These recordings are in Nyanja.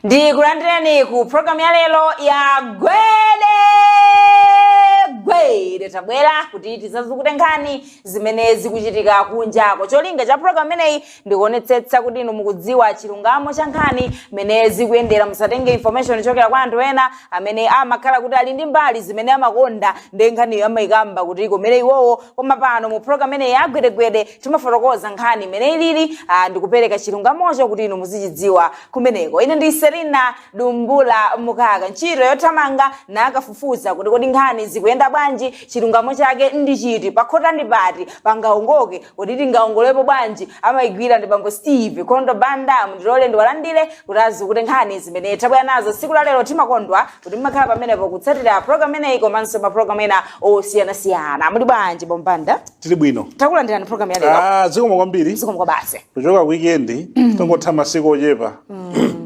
ndikulandirani ku programu ya lero ya gwede gwede tabwera kuti tidzazukute nkhani zimene zikuchitika kunjako cholinga cha programu imeneyi ndikuonetsetsa kuti inu mukudziwa chilungamo cha nkhani mene zikuyendera musatenge information ichokera kwa anthu ena amene amakhala kuti ali ndi mbali zimene amakonda ndi nkhaniyo amayikamba kuti ikomere iwowo koma pano mu programu imeneyi ya gwedegwede timafotokoza nkhani imene ilili ah, ndikupereka chilungamocho kuti inu muzichidziwa kumeneko ine ndi selina dumbula mukaka ntchito yothamanga nakafufuza kuti kodi nkhani zikuyenda bwanji chilungamo chake ndi chiti pakhota ndi pati pangaongoke kuti tingaongolepo bwanji amayigwira ndi bambo steve kondo banda mundilole ndiwalandire kuti azukute nkhani zimene tabwera nazo tsiku la lero timakondwa kuti mmakhala pamenepo kutsatira program imeneyi komanso mapulogalamu ena osiyanasiyana muli bwanji bambo banda tili bwino takulandirani program ya lero Ah, zikomo kwambiri zikomo kwa basi kuchoka weekend tongotha masiku ochepa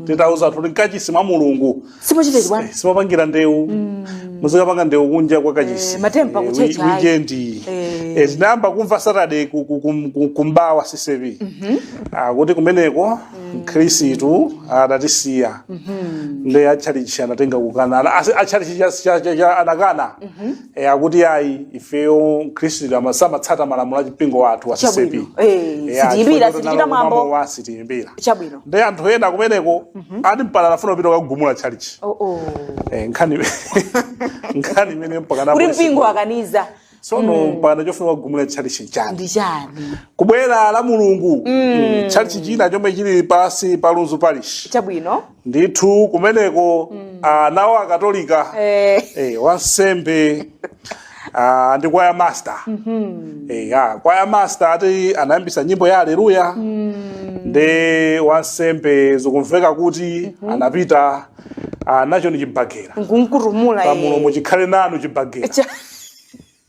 titauza anthu kuti mkachisi mwa mulungu simochita izi bwana simopangira ndewu muzikapanga ndewu kunja kwa kachisi Eh, matempa ku church, ayi. weekend Eh. Eh, tinayamba kumva saturday ku- ku- kum- ku- kumbawa CCAP Ah, kuti kumeneko mkhristu adatisiya ndi atchalichi anatenga kukana Ana- asi- atchalichi cha- cha- cha- cha- anakana E, akuti ayi ifeyo mkhristu ama- samatsata malamulo a mpingo wathu wa CCAP. Chabwino. Eh, E, sitiyimbira, chifukwa choti sitichita nalo mwambo. mwambo wa sitiyimbira. chabwino Ndi anthu ena kumeneko ati mpaka anafuna kupita kukagumula chalichi. oh, oh. Eh, nkhani nkhani imene mpaka kuti anapolisi- mpingo akaniza sono mpaka chofuna kugumula chalichi nchani. ndi chani kubwera la mulungu mm. chalichi china chomwe chili pansi pa lunzu parish chabwino ndithu kumeneko nawo akatolika Eh. eh, wansembe ah, ndi kwaya master eh, ah, kwaya master ati anayambisa nyimbo ya aleluya ndi wansembe zikumveka kuti anapita ah, nacho ndi chibagera nkunkutumula pamulomo chikhale nanu chibagera Cha-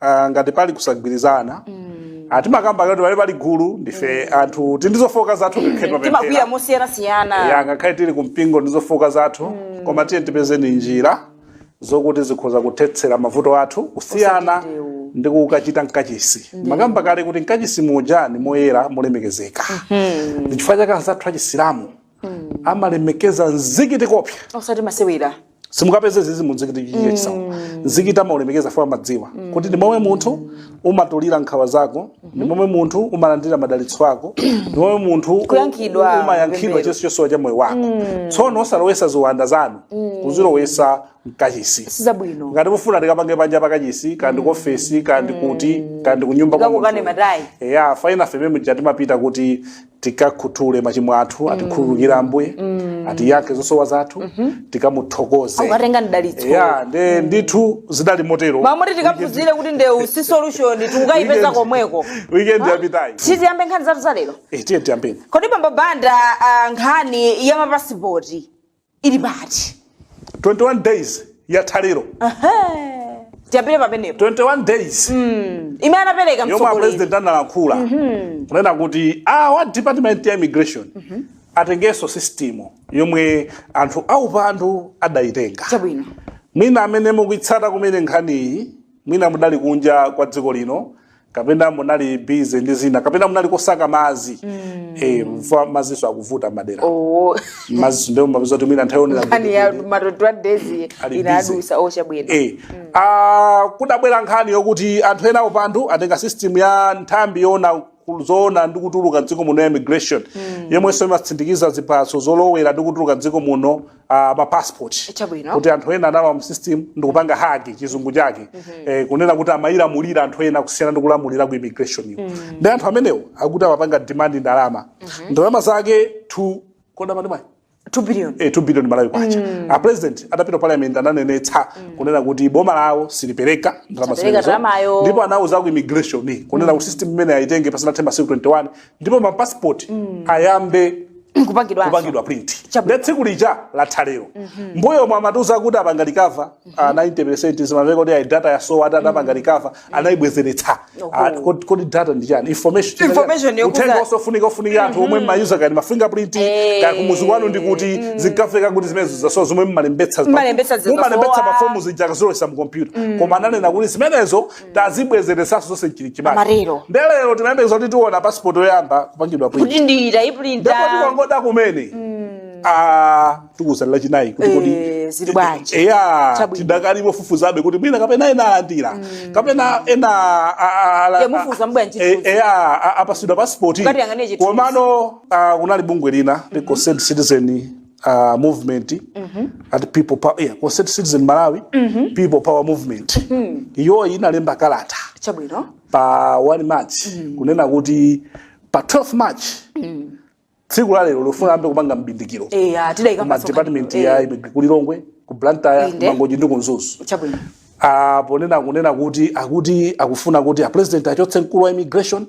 ah, ngati pali kusagwirizana Ah, timakamba kale kuti pali pali gulu ndife anthu tili ndi zofooka zathu kukhedwa timakwiya mosiyanasiyana ya ngakhale tili kumpingo tili ndi zofooka zathu koma tiyeni tipeze njira zokuti zikhoza kuthetsera mavuto athu kusiyana Osati ndewu. ndi kukachita mkachisi mwakamba kale kuti mkachisi muja ndi moyera molemekezeka ndichifukwa chake anzathu achisilamu mm. amalemekeza mzikiti koopsa osati masewera simukapeze izi mu mzikiti chichichisawa mm. mzikiti amaulemekeza poti amadziwa mm. kuti ndi momwe munthu umatulira nkhawa zako mm -hmm. ndi momwe munthu umalandira madalitso ako ndi momwe munthu umayankhidwa chonse chosowa cha moyo wako mm. tsono osalowesa ziwanda zanu mm. kuzilowesa mkachisi sizabwino ngati mufuna tikapange panja pakachisi kandi mm. kuofesi kandi kuti mm. kandi kunyumba kwa munthu eya fine ife mmene muja timapita kuti tikakhuthule machimo athu atikhululukire ambuye atiyankhe zosowa zathu tikamuthokoze Ndikukatenga mdalitso. ya nde ndithu zidali motero mmamoti tikaphunzire kuti ndewu si solution sitikukayipeza Weekend- komweko weekend yapitayi tiziyambe nkhani zathu zalero Eh, tiyeni tiyambeni kodi bambo banda ah, nkhani ya mapasipoti ili pati 21 days yatha lero tiyambire pamenepo 21 days imene anapereka yomwe mtsogoleri apresident analankhula kunena kuti a department ya immigration atengenso system yomwe anthu aupandu adayitenga chabwino mwina amene mukuitsata kumene nkhaniyi mwina mudali kunja kwa dziko lino kapena munali busy ndi zina kapena munali kosaka mazi mm. eh, mwina mazinso akuvuta madera oh. mazinso ndiwomavuta zoti mwina nthawi yowonera nkhani ya ma 21 days inadutsa oh chabwino eh. mm. ah, kudabwera nkhani yokuti anthu ena aupandu atenga system ya nthambi yoona zolowa ndi kutuluka dziko muno ya immigration mm. yomwenso imatsindikiza ziphaso zolowera ndi kutuluka dziko muno ah, ma passport Chabwino. kuti anthu ena analowa mu system ndikupanga hack chizungu chake eh, kunena kuti amayilamulira anthu ena kusiyana ndi kulamulira ku immigration iyo ndi anthu amenewo akuti amapanga demand ndalama ndalama zake 2 kodi amati mwayi 2 billion eh, 2 billion malawi kwacha a president atapita ku parliament ananenetsa kunena kuti boma lawo silipereka ndalama Sapereka zimenezo. ndalamayo. ndipo anauza ku immigration kunena kuti system imeneyo ayitenge pasanathe masiku 21 ndipo ma passport ayambe kupangidwa kupangidwa print Chabwino. nde tsiku lija latha lero mmbuyomu amatiuza kuti apanga recover ah, 90 zimamveka kuti ayi data yasowa atayipanga recover anayibwezeretsa Ah, kodi kodi data ndi chani information chimene- Information yokuza- uthenga wofunika ofunika wa anthu omwe mmawuza kaya ma fingerprint Eh. kaya kumuzi kwanu ndi kuti zinkamveka kuti zimenezo zasowa zomwe mmalembetsa Mmalembetsa zikasowa. mmalembetsa pa fomu zija nkudzalowetsa mu computer koma ananena kuti zimenezo tazibwezeretsanso zonse mchilichimake Amarero. nde lero timayembekeza kuti tiona pasipoti yoyamba kupangidwa print kuti ndiye tayipulinta ndipo tikanadikirabe kumene ah, tikuuzani lachinayi kuti kodi Eh, zili bwanji? eya Chabwino. tidakali mofufuzabe kuti mwina kapena ena alandira kapena ena a- a- ala- Ya mufufuzebe ntchito. Eh, eya a- apatsidwa pasipoti Ngati yang'anire chithunzi. komano ah, kunali bungwe lina la concerned citizen uh, movement at people power yeah, concerned citizen malawi people power movement iyo inalemba kalata chabwino pa 1 march kunena kuti pa 12 march tsiku la lero likufuna ayambe kupanga mbindikiro eya tidayika ma ma department ya immigration ku lilongwe ku blantyre Inde. mangochi ndi ku mzuzu chabwino Ah, ponena kunena kuti akuti akufuna kuti a president achotse mkulu wa immigration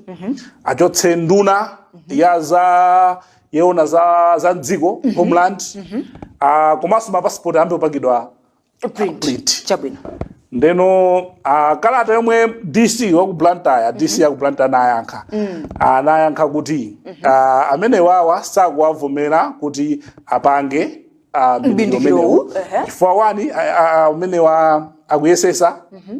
achotse nduna ya za yowona za, za mdziko mm -hmm. homeland mm -hmm. uh, komanso mapasipoti ayambe kupangidwa print, print. chabwino ndeno uh, kalata yomwe dc waku blantyre mm -hmm. dc yaku blantyre anayankha mm. anayankha kuti mm -hmm. uh, amene wawa sakuwavomera kuti apange uh, mbindikiromenewu uh -huh. chifukwa wani umene uh, uh, akuyesetsa mm -hmm.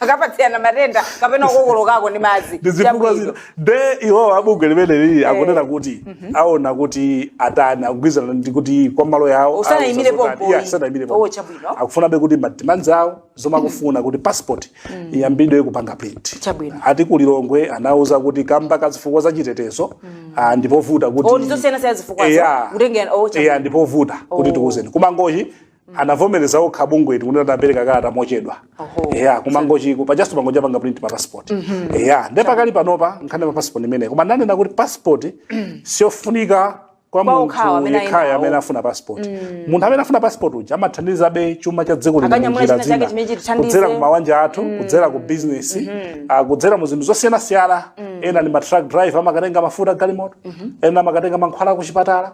akapatsirana matenda kapena kukokoloka ndi madzi ndi zifukwa Chabwino. zina nde iwowo abungwe limeneli akunena kuti aona kuti atani akugwirizana ndi kuti kwa mawu yawo Usanayimire auza zotani. pompo, Yeah, usanayimire pompo. oh, chabwino. akufunabe kuti madimands awo zomwe akufuna kuti passport iyambidwe kupanga print Chabwino. ati kulilongwe anauza kuti kamba ka zifukwa za chitetezo ah, ndipovuta kuti Oh, ndizosiyanasiyana zifukwazo. Yeah. Kutengera- oh, chabwino. Yeah, ndipovuta kuti tikuuzeni kumangochi anavomereza okha bungweti kuti anapereka kalata mochedwa Oho. eya kumangochiko mpaka Mangochi apanga print ma passport eya nde pakali panopa nkhani pa passport imeneyi koma anena kuti passport siyofunika kwa Kwa okhawo munthu amene yekhayo ayinawo. amene afuna passport munthu amene afuna passport uja amathandizabe chuma cha dziko lino Akanyamula munjira china chake zina. chimene chitithandize. kudzera ku mabanja athu kudzera ku business ah, kudzera mu zinthu zosiyanasiyana ena ndi ma truck driver amakatenga mafuta a galimoto ena amakatenga mankhwala ku chipatala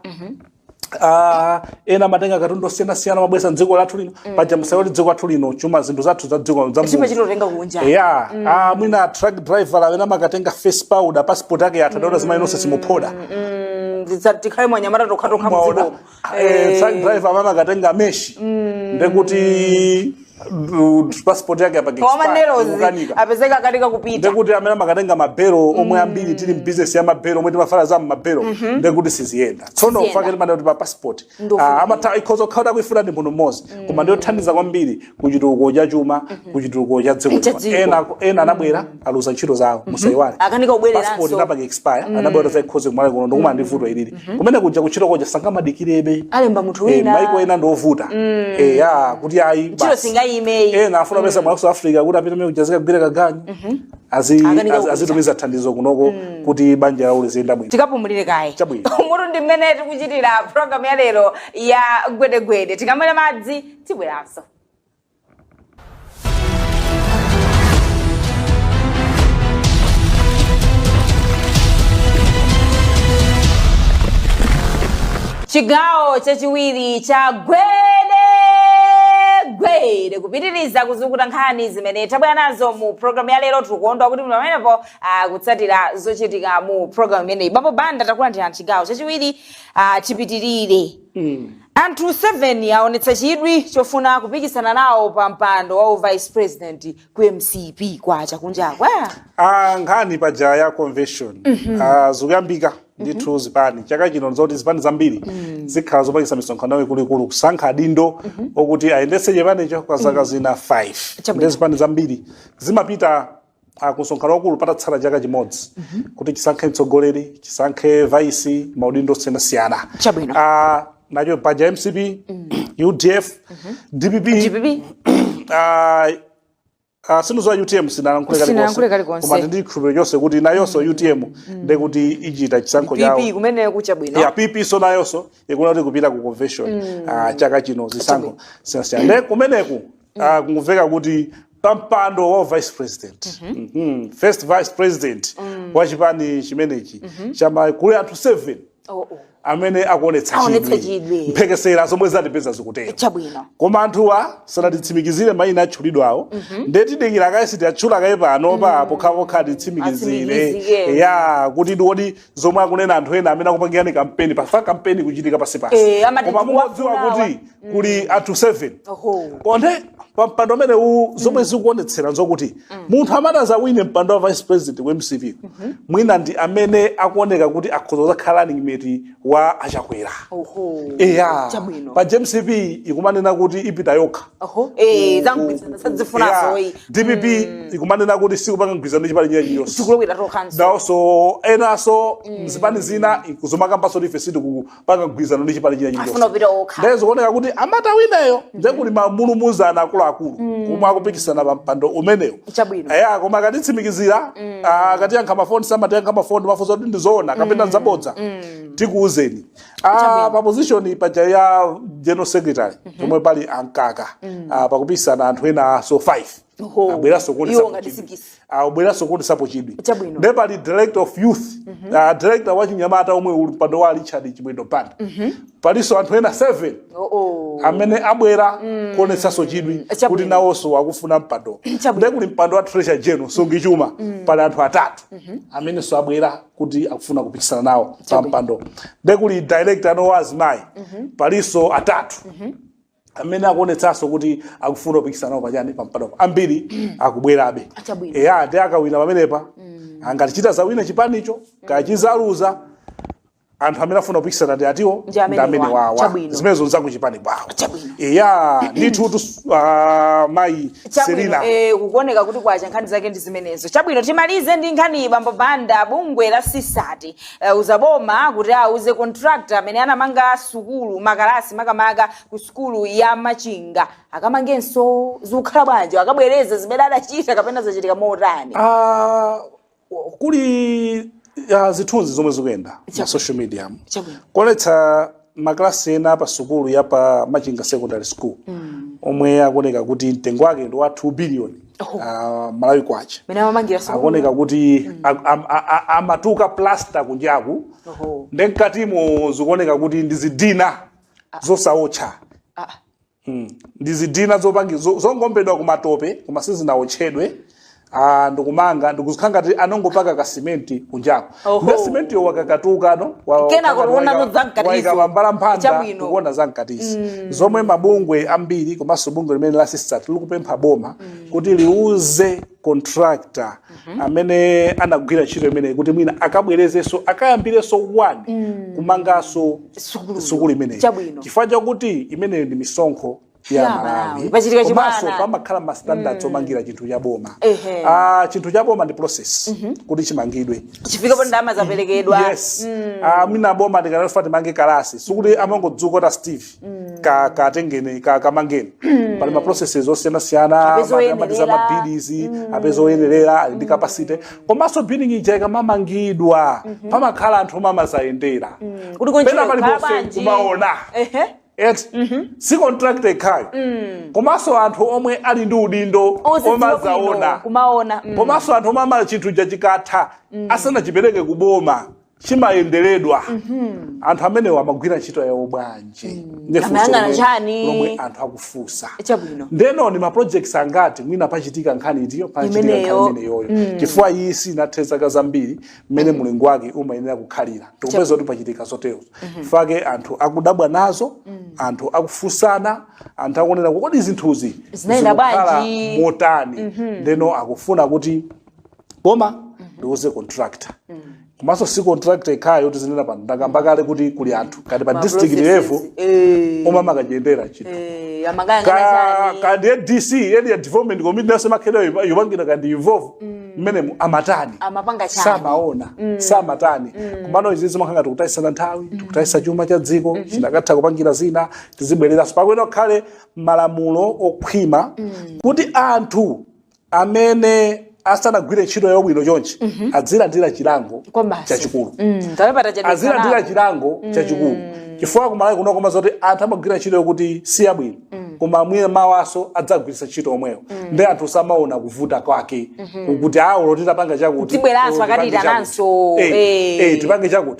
Ah, ena amakatenga katundu osiyanasiyana amabweretsa mdziko lathu lino paja musaiwale kuti dziko lathu lino chuma zinthu zathu za dziko za chuma Mulungu. timatenga kunja ya ah, mwina truck driver amene amakatenga face powder passport yake yatha nde azimayi nonse simuphoda Mm, ndidza- tikhale mwanyamata tokhatokha mwaona mdziko Eh, truck driver amene amakatenga meshi ndekuti passport yake apake koma expire, manerozi ikukanika. apezeka akanika kupita ndekuti amene amakatenga mabelo omwe ambiri tili mbizinesi ya mabelo omwe timavala za mmabelo ndekuti siziyenda tsono Siziyenda. chake timanena kuti pa passport Ndofuna. Ah, amatha ikhoza kukhala kuifuna ndi munthu mmodzi koma ndiyothandiza kwambiri ku chitukuko cha chuma ku chitukuko cha dziko Cha dziko. ena ena anabwera aluza ntchito zawo musaiwale Akanika kubwereranso. passport inapanga expire anabwera kudzaikonza kumalawi kuno ndikumana ndi vuto ilili kumene kuja kuntchito kuja sangamadikirebe alemba munthu Eh, wina maiko ena ndiovuta Eh, ya kuti ayi ntchito basi. singayimeyi ena afuna apeza mu south africa kuti apite mmene kuja azikagwira kaganyu Azi- Akanika azi- kupita. azitumiza thandizo kunoko kuti banja lawo liziyenda bwino tikapumulire kaye Chabwino. muja ndi mmene tikuchitira programu ya lero ya gwedegwede tikamwera madzi tibweranso chigawo chachiwiri cha gwede gwede kupitiriza kuzukuta nkhani zimene tabwera nazo mu programu ya lero tikukondwa kuti muli pamenepo kutsatira zochitika mu programu imeneyi bambo banda takulandirani chigawo chachiwiri ah, chipitirire Anthu 7 aonetsa chidwi chofuna kupikisana nawo pa mpando wa u vice president ku mcp kwacha kunjaku eh? Ah, nkhani paja ya convention ah, zikuyambika ndithu zipani chaka chino nzoti zipani zambiri zikhala zopangisa misonkhano yawo ikuluikulu kusankha adindo okuti ayendetse chipanicho kwa zaka zina 5 Chabwino. ndi zipani zambiri zimapita ah, kumsonkhano waukulu patatsala chaka chimodzi kuti chisankhe mtsogoleri chisankhe vice maudindo osiyanasiyana Chabwino. Ah, nacho paja mcp udf dpp DPP ah, ah, si izo wa utm sinalankhule Sinalankhule kalikonse. koma ndi chikhulupiriro chonse kuti nayonso utm ndekuti ichita chisankho chawo PP kumene kucha bwino ya pp so nayonso ikuna kuti kupita ku convention ah, chaka chino zisankho zosiyanasiyana nde kumeneko ah, kumveka kuti pampando wa vice president Mhm. first vice president wa chipani chimenechi cha ma kuli anthu 7 Oh, oh. amene akuonetsa Aonetsa chidwi. mphekesera zomwe zatipeza zikutero chabwino koma anthuwa sanatitsimikizire mayina atchulidwawo nde tidikira kaye sitiatchula kaye panopa pokhapokha atitsimikizire Atsimikizire. ya kuti ndi iwodi zomwe akunena anthu ena amene akupangirani kampeni paja kampeni kuchitika pansipansi Eh, amati koma ndiwa mukudziwa kunawa. kuti kuli anthu 7 Oho. nde pa mpando umene uwu zomwe zikuonetsera nzokuti munthu amene azawine mpando wa vice president ku mcp mwina ndi amene akuoneka kuti akhoza kuzakhala running mate wa achakwera Oho. eya Chabwino. pa mcp ikumanena kuti ipita yokha Oho, eh, zamgwirizano sakuzifunanso Yeah. oyi dpp ikumanena kuti sikupanga mgwirizano ndi chipani china chiyonse tikulowera tokhanso naonso enanso mzipani zina kuzomakambanso tife sitikupanga mgwirizano ndi chipani china afuna chilichonse kupita okha ndiye zikuoneka kuti amati awineyo ndiye kuli mamulumuzana akuluakulu omwe akupikisana pa mpando umenewu Chabwino. eya koma akatitsimikizira akatiyankha mafoni samatiyankha mafoni mafunso kuti ndizoona kapena nzabodza tikuuzeni Ah, pa position paja ya general secretary pomwe pali a Mkaka ah, pakupikisana anthu enanso 5 Oho. abweranso Iwo kuonesa ngati pochidwi. sikisi. Ah, abweranso kuonesapo chidwi Chabwino. nde pali director of youth ah, director wa achinyamata omwe uli mpando wa richard chimwendo banda palinso anthu ena 7 Oh, oh. amene abwera kuonetsanso chidwi Chabwino. kuti nawonso akufuna mpando Chabwino. nde kuli mpando wa treasure general msungichuma pali anthu atatu amenenso abwera kuti akufuna kupikisana nawo pa mpando nde kuli director wa azimayi palinso atatu amene akuonetsanso kuti akufuna kupikisana nawo pachani pa mpando ambiri akubwerabe Achabwino. eya ndi akawina pamenepa ngati chitazawina chipanicho kaya chizaluza anthu amene afuna kupikisana ndi atiwo Ndi amene ndi amene wa- wawa chabwino. zimenezo nzakuchipani kwawo Chabwino. eya ndithu tus- ah, mayi chabwino Selina. eh, kukuoneka kuti kwacha nkhani zake ndi zimenezo chabwino timalize ndi nkhani bambo banda bungwe la sisati uh, lauza boma kuti auze contractor amene anamanga sukulu makalasi makamaka ku sukulu ya machinga akamangenso zikukhala bwanji akabwereze zimene adachita kapena zachitika motani Ah, kuli zithunzi zomwe zikuyenda ma Chabwino. social media mu. Chabwino. kuonetsa maklasi ena pa sukulu ya pa machinga secondary school omwe akuoneka kuti mtengo wake ndi wa 2 billion Oh. ah, malawi kwacha mene amamangira sukulu akuoneka kuti a- a- a- a- amatuka plaster kunjaku Oho. nde mkatimo zikuoneka kuti ndi zidina zosaotcha Ah, Hmm. ndi zidina zopangi zo- zongombedwa kumatope koma sizinawotchedwe ah, ndikumanga ndikuzikhala ngati anongopaka ka simenti kunjako Oho. nde simenti yo yakakatuka no wa- Kenako wakakatuka, uona waika- zamkatizo. waika mambala mphanda Chabwino. ndikuona zamkatizi zomwe mabungwe ambiri komanso bungwe limene la sisati likupempha boma kuti liuze contractor amene anagwira ntchito imeneyi kuti mwina akabwerezenso akayambirenso one kumanganso Sukulu. sukulu imeneyi Chabwino. chifukwa chakuti imeneyo ndi misonkho Ya ya Malawi. malawi Pachitika chibwana. komanso pamakhala ma standards omangira chinthu cha boma Ehe. Ah, chinthu cha boma ndi process kuti chimangidwe chifike poti ndalama zaperekedwa yes Ah, mwina boma tikufuna timange kalasi sikuti amangodzuka a steve katengeni kamangeni pali ma processes osiyana siyana Apeza amati amati za oyenerera. mabidizi apeza oyenerera ali ndi capacity komanso building ija ikamamangidwa pamakhala anthu omwe amazayendera kuti pena kuntchito pali kukhala bonse bwanji kumaona Ehe. eti si contractor yekhayo komanso anthu omwe ali ndi udindo Ozidziwa bwino, omazaona kumaona mm. komanso anthu omwe amala chinthu ja chikatha asanachipereke kuboma chimayenderedwa anthu amenewo amagwira ntchito yawo bwanji Ndiye funso Amayang'ana lomwe- chani? lomwe anthu akufunsa chabwino ndeno ni maprojects angati mwina pachitika nkhani iti pachitika nkhani Imeneyo. imeneyoyo chifukwa iyi sinathe zaka zambiri mmene mulingo wake umayenera kukhalira tikupeza kuti pachitika zoterozo chifukwa chake anthu akudabwa nazo anthu akufunsana anthu akunena kuti kodi zinthuzi Zinayenda zikukhala bwanji?" motani ndeno akufuna kuti boma liuze contractor komanso si contractor yekhayo yoti tizinena pano ndakamba kale kuti kuli anthu kati pa district level Eh, omwe amakachiyendera chinthu eh, amakaya ngati ka chani. ka ndiye dc area development committee nawonso amakhala yopangira kandi involve mmenemo amatani Amapanga chani. samaona samatani kumano izi zimakhala ngati tikutayitsana nthawi tikutayitsa chuma cha dziko chikanatha kupangira zina tizibwereranso pakuyenera pakhale malamulo okhwima kuti anthu amene asanagwire ntchito yabwino chonchi adzilandira chilango Kwabasi. chachikulu Mm, tawe patachedwa azilandira kalaa. chilango chachikulu chifukwa kumalawi kuno koma zoti anthu amagwira ntchito yokuti si yabwino koma mwina mawanso adzagwiritsa ntchito omweyo ndi anthu samaona kuvuta kwake kuti awo olo titapanga chakuti Tibweranso loti akatiitananso, chakuti. Eh, eh. eh, tipange chakuti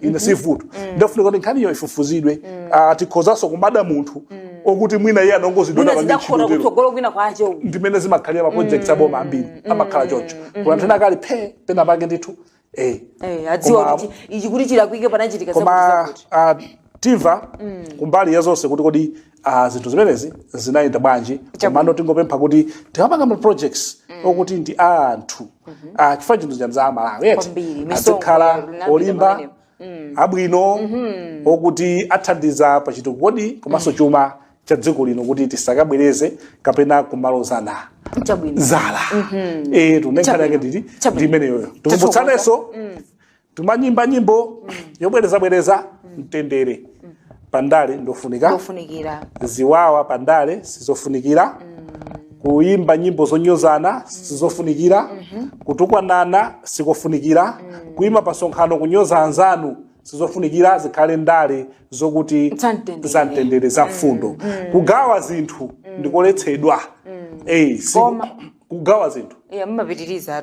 ine sivuto ndi yofunika kuti nkhaniyo ifufuzidwe Ah, tikhozanso kumada munthu okuti mwina iye anongozidwa mwina napange zidakhota ntchito kutsogolo kwina kwache uku ndimene zimakhalira maprojects aboma ambiri amakhala choncho kuna anthu ena akali phe pena pake ndithu eh Eh, adziwa Koma- kuti ichi kuti chilakwike panachitika koma zakuti ah, timva kumbali ya zonse kuti kodi Ah, zinthu zimenezi zinayenda bwanji komano tingopempha kuti tikapanga ma projects okuti ndi a anthu Ah, chifukwa chinthu cha anzathu a Malawi eti Kwambiri, misongo azikhala Ronaldo olimba Ronaldo. abwino okuti athandiza pa chitukuko komanso chuma cha dziko lino kuti tisakabwereze kapena kumalozana chabwino zala eh tu ine nkhani yake ndili Chabwino. ndi imeneyoyo tikumbutsanenso Timayimba nyimbo yobwerezabwereza mtendere pandale ndofunika ndofunikira ziwawa pandale sizofunikira kuyimba nyimbo zonyozana sizofunikira kutukwanana sikofunikira kuyima pasonkhano kunyoza anzanu sizofunikira zikhale ndale zokuti Za mtendere. za mtendere za mfundo kugawa zinthu ndikoletsedwa Eh, si- Koma. kugawa zinthu Yeah, mumapitiriza a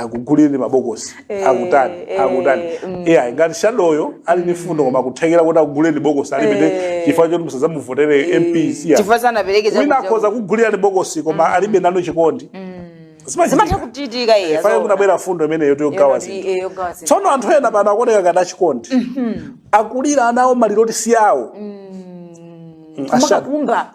akugulireni mabokosi Eh, akutani eh, akutani mm. yeah, ngati shadoyo ali ndi fundo koma kuthekera kuti akugulireni bokosi alibe Eh. chifukwa choti musazamuvotere MP yeah. chifukwa sanapereke wina chakudya. akhoza kukugulirani bokosi koma alibe nanu chikondi Zimachitika. zimatha kuchitika iye fane kunabwera fundo imeneyo yogawa zinthu tsono anthu ena pano akuoneka ngati achikondi akulira nawo maliro oti si awo Mm, ashado. kumakakumba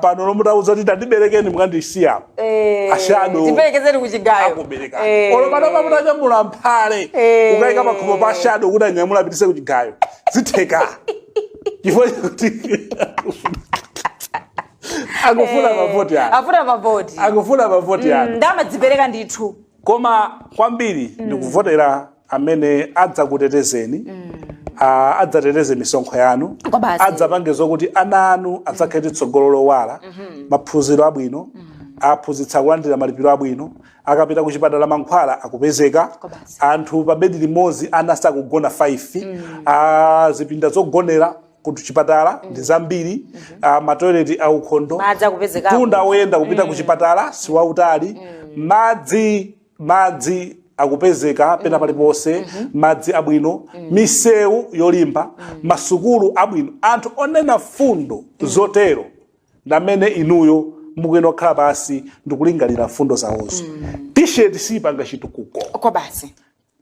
pano olo mutawauza kuti tandiberekeni mukandisiya apa Eh, Ashado. tiperekezeni kuchigayo akubereka Eh. olo panopa mutanyamula mphale Eh. ukayika pakhomo pa ashado kuti anyamula apitise kuchigayo zitheka chifukwa chakuti akufuna mavoti ake afuna mavoti akufuna mavoti ake nde amadzipereka ndithu koma kwambiri ndikuvotera amene adzakutetezeni ah, adzateteze misonkho yanu Kwa basi. adzapange zokuti ana anu adzakhale ndi tsogolo lowala maphunziro abwino aphunzitsi akulandira malipiro abwino akapita ku chipatala mankhwala akupezeka Kwa basi. anthu pa bedi limodzi ana sakugona 5 ah, zipinda zogonera kuchipatala ndi zambiri ah, matoileti aukhondo Madzi akupezeka mtunda woyenda kupita kuchipatala si wautali madzi madzi akupezeka pena paliponse madzi abwino misewu yolimba masukulu abwino anthu onena fundo zotero ndamene inuyo mukuyenera kukhala pansi ndikulingalira fundo zawozo tisheti siyipanga chitukuko kwa basi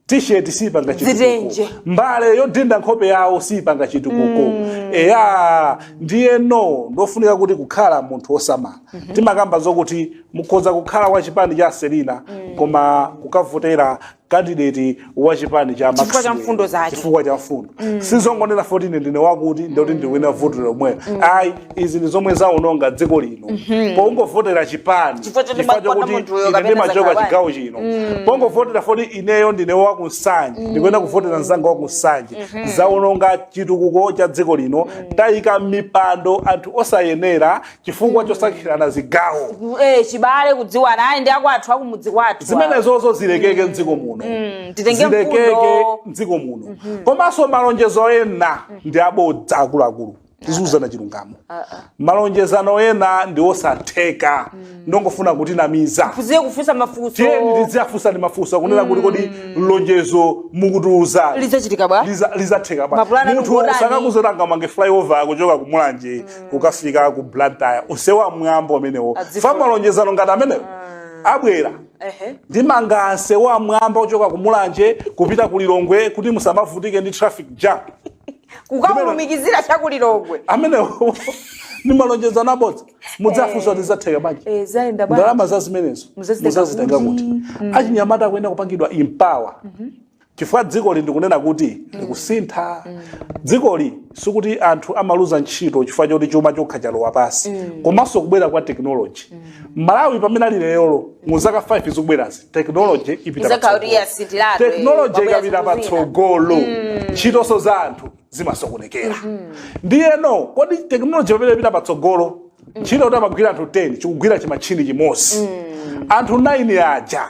t-shirt siipanga Zitenje. chitukuko mbale yodinda nkhope yawo siipanga chitukuko eya ndiyeno ndofunika kuti kukhala munthu wosamala timakamba zokuti mukhoza kukhala wa chipani cha selina koma kukavotera kandideti wa chipani cha Chifukwa cha Maxwell. mfundo zake. chifukwa cha mfundo sizongonena foti ndine wakuti ndikuti ndiwina vuto lomwelo ayi izi ndi zomwe zaononga dziko lino pongovotera chipani Chifukwa choti chifukwa mwakonda chokuti munthuyo ine kapena ndimachoka zakawani. chigawo chino pongovotera foti ineyo ndine wakunsanje ndikuyenera kuvotera mzanga wakunsanje zaononga chitukuko cha dziko lino tayika m'mipando anthu osayenera chifukwa chosankhirana zigawo Eh, chibale kudziwana ayi ndi akwathu akumudzi kwathu zimenezozo zilekeke mdziko muno titenge zilekeke mfundo. mdziko muno komanso malonjezo ena ndi abodza akuluakulu tiziuzana chilungamo malonjezano ena ndi osatheka ndongofuna kutinamiza tiziwe kufunsa mafunso tiyeni tiziwafunsa ndi mafunso kunena kuti kodi lonjezo mukutiuza lidzachitika bwa Liza- lizatheka bwa Mapulani munthu akukuonani. sangakuuze kuti angamange flyover kuchoka ku mulanje kukafika ku blantyre nsewu wammwamba umenewo Adzifunsa. fa malonjezano ngati amenewo abwera Ehe. ndimanga nsewu wammwamba ochoka ku mulanje kupita ku lilongwe kuti musamavutike ndi traffic jam kukamulumikizira chakulilongwe amenewo ni malonjezano abodza mudzafunsa kuti lizatheka bwanji Eh, zayenda bwanji? ndalama za zimenezo Muzazitenga muzazitenga kuti? kuti Mm. achinyamata akuyenera kupangidwa empower chifukwa dzikoli ndikunena kuti likusintha dzikoli sikuti anthu amaluza ntchito chifukwa choti chuma chokha chalowa pasi komanso kubwera kwa tekinoloji malawi pamene ali lero mu zaka 5 zikubwerazi technology ipita Izakhala kuti patsogolo. yasinthiratu, eh, technology pabwera ikapita zinthu zina. patsogolo ntchitonso za anthu zimasokonekera ndiyeno kodi technology pamene ipita patsogolo ntchito kuti amagwira anthu 10 chikugwira chimatchini chimodzi anthu 9 aja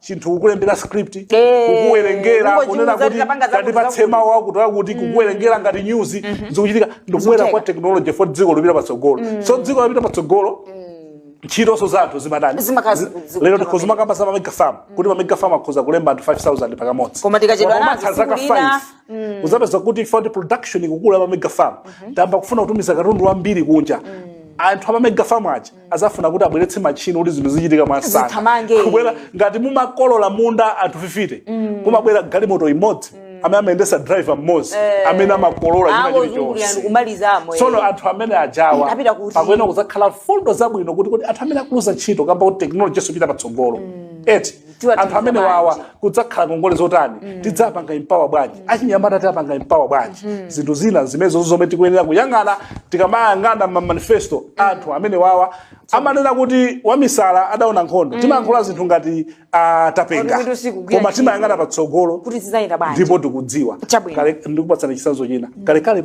chinthu kukulembera script Eh, kukuwerengera kungochiuza kunena kuti kuti tapanga zakuti tatipatse zakuti. mawu akuti akuti kukuwerengera ngati news zikuchitika ndikubwera Zikutheka. kwa technology for dziko lopita patsogolo so dziko lopita patsogolo ntchitonso za anthu zimatani Zimakhala Zi- ziku- ziku- lero tikhoza kumakamba za mamega farm kuti mamega farm akhoza kulemba anthu 5000 pakamodzi Koma tikachedwa Koma nazo pamatha zaka tsiku lina, 5 uzapeza kuti food production ikukula mamega farm tayamba kufuna kutumiza katundu wambiri kunja anthu amamega farm aja azafuna kuti abweretse machini kuti zinthu zichitika mwansanga Zithamange. kubwera ngati mumakolola munda anthu 50 kumabwera galimoto imodzi amene amayendesa driver mmodzi amene amakolola china angozungulira chilichonse ndikumalizamo tsono anthu amene ajawa Apita kuti? pakuyenera kuzakhala mfundo zabwino kuti kuti anthu amene akuluza ntchito kamba kuti teknoloji yathu ikupita patsogolo eti Tiwa anthu tikufa amene wawa bwanji? kudzakhala ngongole zotani tidzapanga empower bwanji achinyamata tidzapanga empower bwanji zinthu zina zimenezo zomwe tikuyenera kuyang'ana tikamayang'ana mamanifesto anthu amene wawa amanena kuti wamisala adaona nkhondo timayankhula zinthu ngati ah, tapenga Kuti usiku kugwira koma ntchito. timayang'ana patsogolo kuti zizayenda bwanji ndipo tikudziwa Chabwino. Kale- ndikupatsani chisanzo china kalekale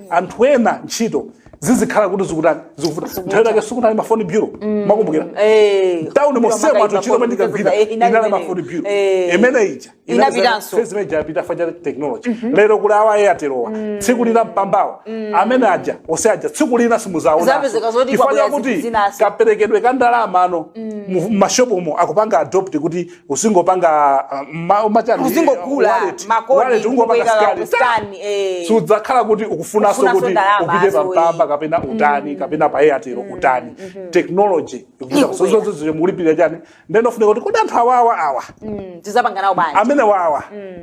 anthu ena ntchito zizikhala kuti zikutani zikuvuta nthawi yake sikunali mafoni bureau mukukumbukira Eh, town kuliwa mosema makayi anthu ntchito mafoni pamene tikagwira bureau, eh, inali inali imeneyo. mafoni bureau Eh. imene ija Inapitanso. phase imene ija yapita chifukwa cha technology lero kuli awa Airtelowa tsiku lina mpambawa amene aja ose aja tsiku lina simuzaona Zapezeka zoti chifukwa kwabwera chakuti zinthu zinaso. kaperekedwe ka ndalama ano mu- mu mashopumo akupanga adopt kuti uzingopanga ma- umachani Uzingogula wallet, makodi, wallet, ungopanga uzingopanga scan, scan, eh. sudzakhala kuti ukufunanso Ukufunanso kuti ndalama upite azo, pa Mpamba eh. kapena utani kapena pa airtel utani technology ikupita Ikubwera. kusozozo mukulipirira chani ndenofunika kuti kodi anthu awawa awa Mm, tizapanga nawo bwanji amene wawa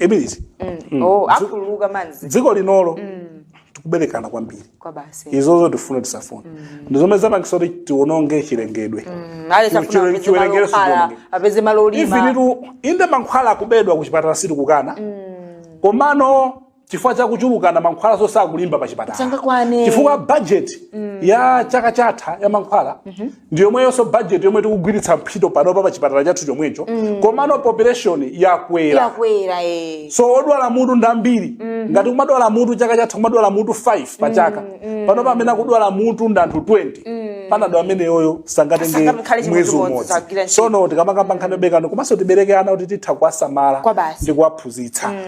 ibilizi oh akhululuka manzi dziko linolo tikuberekana kwambiri kwa basi izozo tifune tisafune ndi zomwe zapangisa kuti tiononge chilengedwe ale Chiwe- afuna chiwe- chiwerengero sichionongeka. apeze malo olima ifinitu inde mankhwala akubedwa ku chipatala sitikukana komano chifukwa cha kuchulukana mankhwalanso sakulimba pa chipatala Sangakwane. chifukwa budget ya chaka chatha ya mankhwala ndi yomweyonso budget yomwe tikugwiritsa ntchito panopa pa chipatala chathu chomwecho komano population yakwera yakwera eh. so odwala mutu ndi ambiri ngati kumadwala mutu chaka chatha kumadwala mutu 5 pa chaka panopa amene akudwala mutu ndi anthu 20 panado ameneyoyo sangatenge Sangakhale chimodzi mwezi modzi, umodzi sagwira ntchito. sono tikamakamba nkhani yoberekana komanso tibereke ana kuti titha kuwasamala Kwa basi. ndi kuwaphunzitsa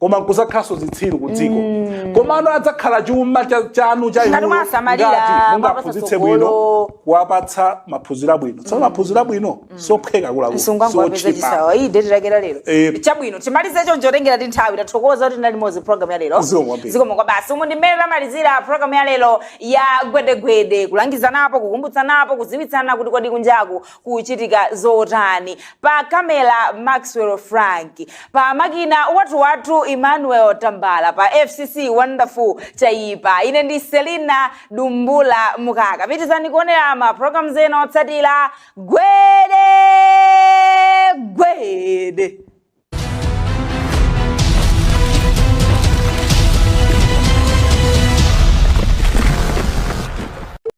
koma nkudzakhalanso zitsiru ku dziko mm. komano adzakhala chuma chanu cha inuyo ngati mungaphunzitse bwino kuwapatsa maphunziro abwino tsono mm. maphunziro abwino mm. sophweka kulakusochipa iyi date yake ya lero eh. chabwino timalize choncho tengera ndi nthawi tathokoza kuti tinali limodzi program ya lero zikomo kwa basi umu ndi mmene tamalizira program ya lero ya gwedegwede kulangizanapo kukumbutsanapo kuziwitsana kuti kodi kunjaku kuchitika zotani pa camera maxwell frank pa makina wathu wathu emmanuel tambala pa fcc wonderful chaipa ine ndi selina dumbula Mukaka pitirizani kuonera ma programs ena otsatira gwede gwede